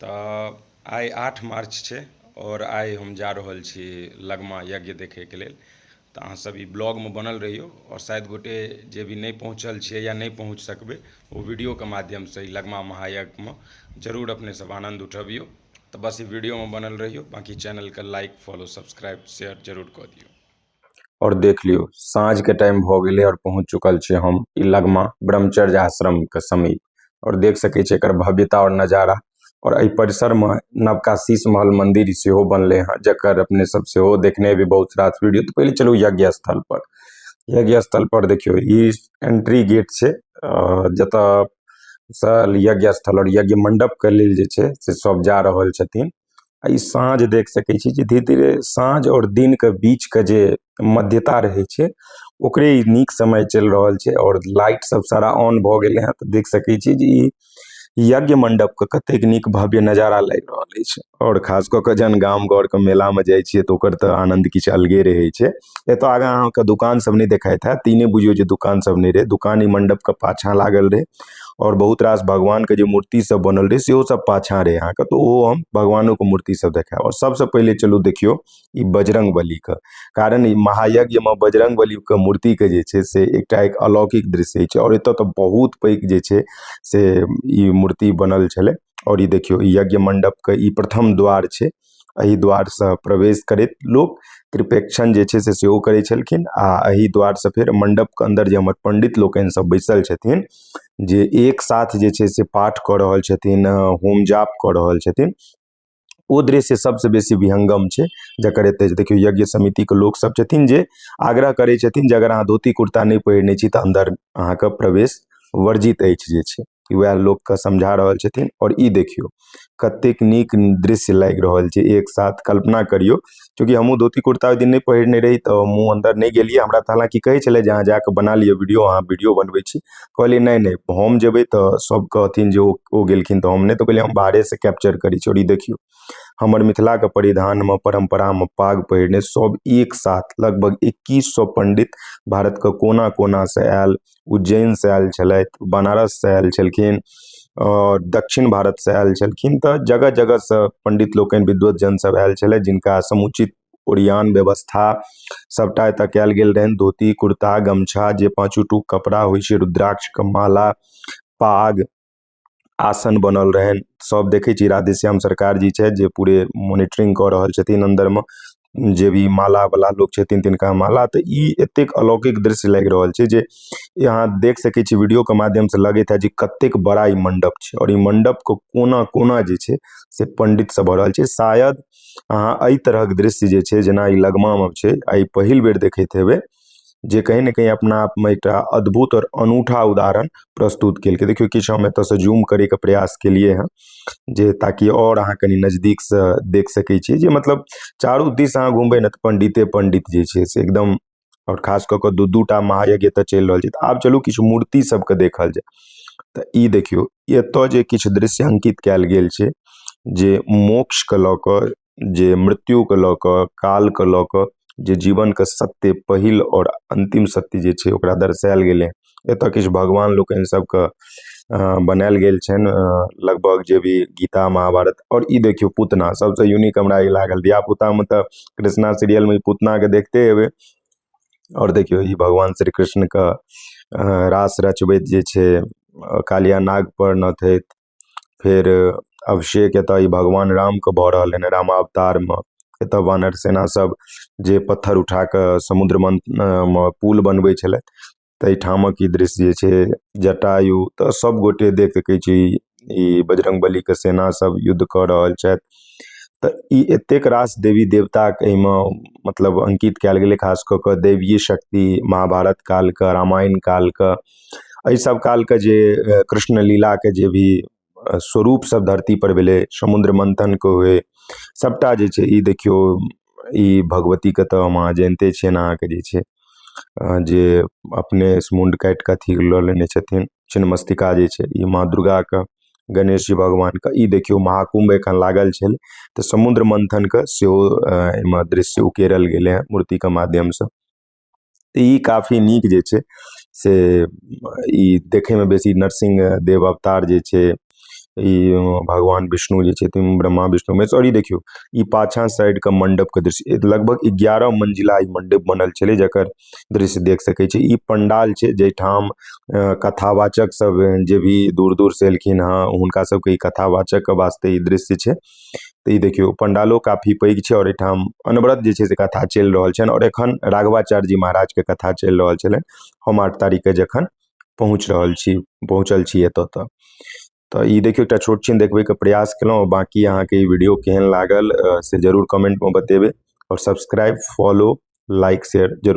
तऽ आइ आठ मार्च छै आओर आइ हम जा रहल छी लगमा यज्ञ देखैके लेल तऽ अहाँ सब ई ब्लॉगमे बनल रहियौ आओर शायद गोटे जे भी नहि पहुँचल छियै या नहि पहुँच सकबै ओ वीडियोके माध्यमसँ ई लगमा महायज्ञमे जरूर अपने सब आनन्द उठबियौ तऽ बस ई वीडियोमे बनल रहियौ बाँकी चैनलके लाइक फॉलो सब्सक्राइब शेयर जरूर कऽ दियौ और देख लियो साँझ के टाइम भ गेले और पहुंच चुकल छीये हम इ लगमा ब्रह्मचर्य आश्रम के समीप और देख सके छीये एकर भव्यता और नजारा और ए परिसर में नवका शीश महल मंदिर सेहो बनले हेय जकर अपने सब सेहो देखने हेबे बहुत रास वीडियो ते पहने चलू यज्ञ स्थल पर यज्ञ स्थल पर देखियो इ एंट्री गेट छै अ जता से यज्ञ स्थल और यज्ञ मंडप के लेल जे छै से सब जा रहल छथिन। आ ई साँझ देख सकै छी जे धीरे-धीरे साँझ और दिन के बीच के जे मध्यता रहे छै ओकरे ई निक समय चल रहल छै और लाइट सब सारा ऑन भ गेले हेय ते देख सके छी जे इ यज्ञ मंडप के कतेक निक भव्य नजारा लाएग रहल ऐछ और खास केए के जहन गाम घर के मेला में जाय छीये ते ओकर ते आनंद किछ अलगे रहे छै एता आगा आहां के दोकान सब ने देखाएत हेत इ ने बुझीयो जे दोकान सब ने रहे दोकान इ मंडप के पाछा लागल रहे। आओर बहुत रास भगवानके जे मूर्तिसभ बनल रहै सेहो सभ पाछाँ रहै अहाँके तऽ ओहो हम भगवानोके मूर्तिसभ देखायब आओर सभसँ पहिले चलू देखियौ ई बजरङ्ग बलीके कारण ई महायज्ञमे बजरङ्ग बलीके मूर्तिके जे छै से एकटा एक अलौकिक दृश्य होइ छै आओर एतय तऽ बहुत पैघ जे छै से ई मूर्ति बनल छलै आओर ई देखियौ ई यज्ञ मण्डपके ई प्रथम द्वार छै एहि द्वारसँ प्रवेश करैत लोक त्रिपेक्षण जे छै से सेहो करै छलखिन आ एहि द्वारसँ फेर मण्डपके अन्दर जे हमर पण्डित लोकनि सभ बैसल छथिन जे एक साथ जे छै से पाठ कऽ रहल छथिन होम जाप कऽ रहल छथिन ओ दृश्य सभसँ बेसी विहङ्गम छै जकर एतय जे देखियौ यज्ञ समितिके लोकसभ छथिन जे आग्रह करै छथिन जे अगर अहाँ धोती कुर्ता नहि पहिरने छी तऽ अन्दर अहाँके प्रवेश वर्जित अछि जे छै कि वएह लोक के समझा रहल छथिन आओर ई देखियौ कतेक नीक दृश्य लागि रहल छै एक साथ कल्पना करियौ चूँकि हमहुँ धोती कुर्ता ओहि दिन नहि पहिरने रही तऽ हमहुँ अन्दर नहि गेलियै हमरा तऽ हलाँकि कहै छलै जे अहाँ जा कऽ बना लिअ वीडियो अहाँ वीडियो बनबै छी कहलियै नहि नहि हम जेबै तऽ सब कहथिन जे ओ ओ गेलखिन तऽ हम नहि तऽ कहलियै हम बाहरे से कैप्चर करै छी आओर ई देखियौ हमर मिथिला के परिधान मे परम्परा मे पाग पहिरने सब एक साथ लगभग इक्कीस सए पण्डित भारत के कोना कोना से आयल उज्जैनसँ आयल छलथि बनारससँ आयल छलखिन आओर दक्षिण भारतसँ आयल छलखिन तऽ जगह जगहसँ पण्डित लोकनि विद्वत जनसभ आयल छलथि जिनका समुचित ओरियान व्यवस्था सभटा एतय कयल गेल रहनि धोती कुर्ता गमछा जे पाँचू टूक कपड़ा होइ छै रुद्राक्षके माला पाग आसन बनल रहनि सब देखै छी राधेश्याम सरकार जी छथि जे पूरे मोनिटरिंग कऽ रहल छथिन अन्दरमे जे भी मालावला लोक छथिन तिनका माला तऽ ई एतेक अलौकिक दृश्य लागि रहल छै जे ई अहाँ देख सकै छी वीडियोके माध्यमसँ लगैत हैत जे कतेक बड़ा ई मण्डप छै आओर ई मण्डपके कोना कोना जे छै से पण्डितसँ भरल छै शायद अहाँ एहि तरहक दृश्य जे छै जेना ई लगमामे छै आइ पहिल बेर देखैत हेबै जे कहीं ने कहीं अपना आपमे एकटा अद्भुत आओर अनूठा उदाहरण प्रस्तुत केलकै देखियौ किछु हम एतयसँ जूम करयके प्रयास केलियै हेँ जे ताकि आओर अहाँ कनि नजदीकसँ देख सकै छी जे मतलब चारू दिस अहाँ घुमबै ने तऽ पण्डिते पण्डित जे छै से एकदम आओर खास कऽ कऽ दू दू टा महायज्ञ एतय चलि रहल छै तऽ आब चलू किछु मूर्ति सभके देखल जाय तऽ ई देखियौ एतय जे किछु दृश्य अंकित कयल गेल छै जे मोक्षके लऽ कऽ जे मृत्युके लऽ कऽ कालके लऽ कऽ जे जीवनके सत्य पहिल आओर अन्तिम सत्य जे छै ओकरा दर्शायल गेलै हँ एतऽ किछु भगवान लोकनि सबके बनायल गेल छनि लगभग जे भी गीता महाभारत आओर ई देखियौ पुतना सबसँ यूनिक हमरा ई लागल धियापुतामे तऽ कृष्णा सीरियलमे ई पुतनाके देखते हेबै आओर देखियौ ई भगवान श्री कृष्णके रास रचबैत जे छै कालिया नागपर नथैत फेर अभिषेक एतऽ ई भगवान रामके भऽ रहल हन रामावतारमे एतऽ वानर सेना सब जे पत्थर उठा कऽ समुद्र मन्थनमे पुल बनबै छलथि तै ठामक ई दृश्य जे छै जटायु तऽ सब गोटे देख सकै छी ई बजरंगबलीके सेना सब युद्ध कऽ रहल छथि तऽ ई एतेक रास देवी देवताक एहिमे मतलब अङ्कित कयल गेलै खास कऽ कऽ दैवीय शक्ति महाभारत कालके रामायण कालके एहि सब कालके जे कृष्ण लीलाके जे भी स्वरूप सब धरती पर भेलै समुद्र मन्थनके हुए सबटा जे छै ई देखियौ ई भगवतीके तऽ हम अहाँ जानिते छियनि अहाँके जे छै जे अपने मुण्ड काटि कऽ अथी लऽ लेने छथिन छिन्नमस्तिका जे छै ई माँ दुर्गाके गणेश जी भगवानके ई देखियौ महाकुम्भ एखन लागल छलै तऽ समुद्र मन्थनके सेहो एहिमे दृश्य उकेरल गेलै हँ मूर्तिके माध्यमसँ तऽ ई काफी नीक जे छै से ई देखयमे बेसी नरसिंह देव अवतार जे छै ई भगवान विष्णु जे छथिन ब्रह्मा विष्णु महेश आओर ई देखियौ ई पाछाँ साइडके मण्डपके दृश्य लगभग एगारह मञ्जिला ई मण्डप बनल छलै जकर दृश्य देख सकै छी ई पण्डाल छै जाहि ठाम अ, कथावाचक सब जे भी दूर दूर से एलखिन हँ हुनका सबके ई कथावाचकके वास्ते ई दृश्य छै तऽ ई देखियौ पण्डालो काफी पैघ छै आओर एहिठाम अनवरत जे छै से कथा चलि रहल छनि आओर एखन राघवाचार्य जी महाराजके कथा चलि रहल छलनि हम आठ तारीखकेँ जखन पहुँच रहल छी पहुँचल छी एतय तऽ तऽ ई देखियौ एकटा छोट छिन देखबैके प्रयास केलहुँ बाँकी अहाँके ई वीडियो केहन लागल से जरूर कमेंटमे बतेबै आओर सब्सक्राइब फॉलो लाइक शेयर जरूर